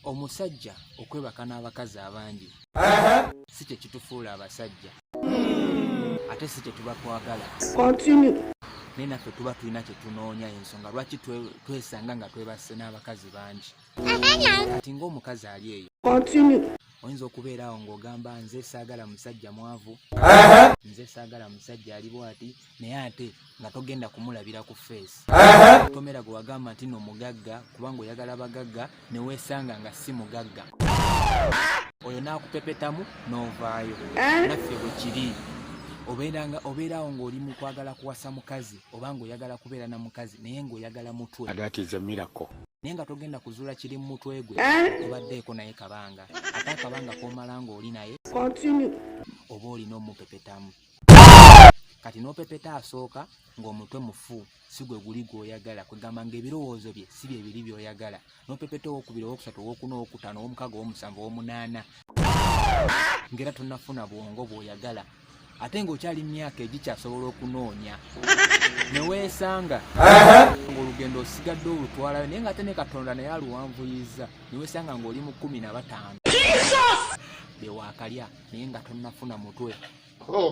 omusajja okwebaka n'abakazi abangi si kye kitufuula abasajja ate si kye tuba twagala naye naffe tuba tulina kye tunoonya ensonga lwaki twesanga nga twebasse n'abakazi bangi kati ng'omukazi ali eyo oyinza okubeera awo ng'ogamba nze saagala musajja mwavu nze saagala musajja ali bwati naye ate nga togenda kumulabira ku feesi tomera gwe wagamba nti no mugagga kubanga oyagala bagagga ne weesanga nga si mugagga oyo n'akupepetamu n'ovaayo eh? naffe bwe kiri obeeranga obeerawo ng'oli mu kwagala kuwasa mukazi oba ng'oyagala kubeera na mukazi naye ng'oyagala mutwe naye nga togenda kuzuula kiri mu mutwe gwe eh? obaddeeko naye kabanga ate akabanga k'omala ng'oli naye oba olina omupepetamu kati n'opepeta asooka ng'omutwe mufu si gwe guli gw'oyagala kwegamba ng'ebirowoozo bye si bye biri by'oyagala n'opepeta owokubiri owokusatu owokuna owokutaano owomukaga owomusanvu owomunaana ng'era tonafuna bwongo bw'oyagala ate ng'okyali myaka egikyasobola okunoonya neweesanga ng'olugendo osigadde olutwalayo naye ng'ate ne katonda naye aluwanvuyizza neweesanga ng'oli mu kkumi na bataano bewakalya naye nga tonnafuna mutwe oh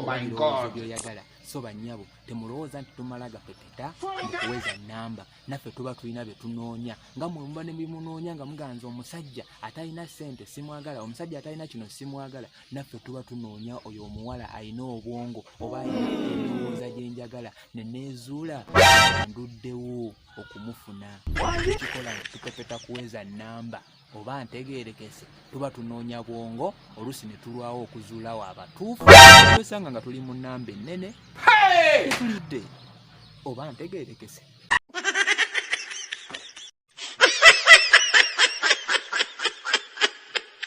byoyagala so banyabo temulowooza nti tumala gapepeta mukuweza namba naffe tuba tulina byetunoonya nga mwemuba nebimunoonya nga muganza omusajja atalina sente simwagala omusajja atalina kino simwagala naffe tuba tunoonya oyo omuwala alina obwongo oba endowooza gyenjagala neneezuula nduddewo okumufuna ekikola tupepeta kuweza namba oba ntegeerekese tuba tunoonya bwongo oluusi ne tulwawo okuzuula wa abatuufu twesanga nga tuli mu nnamba ennene tetulidde oba ntegeerekese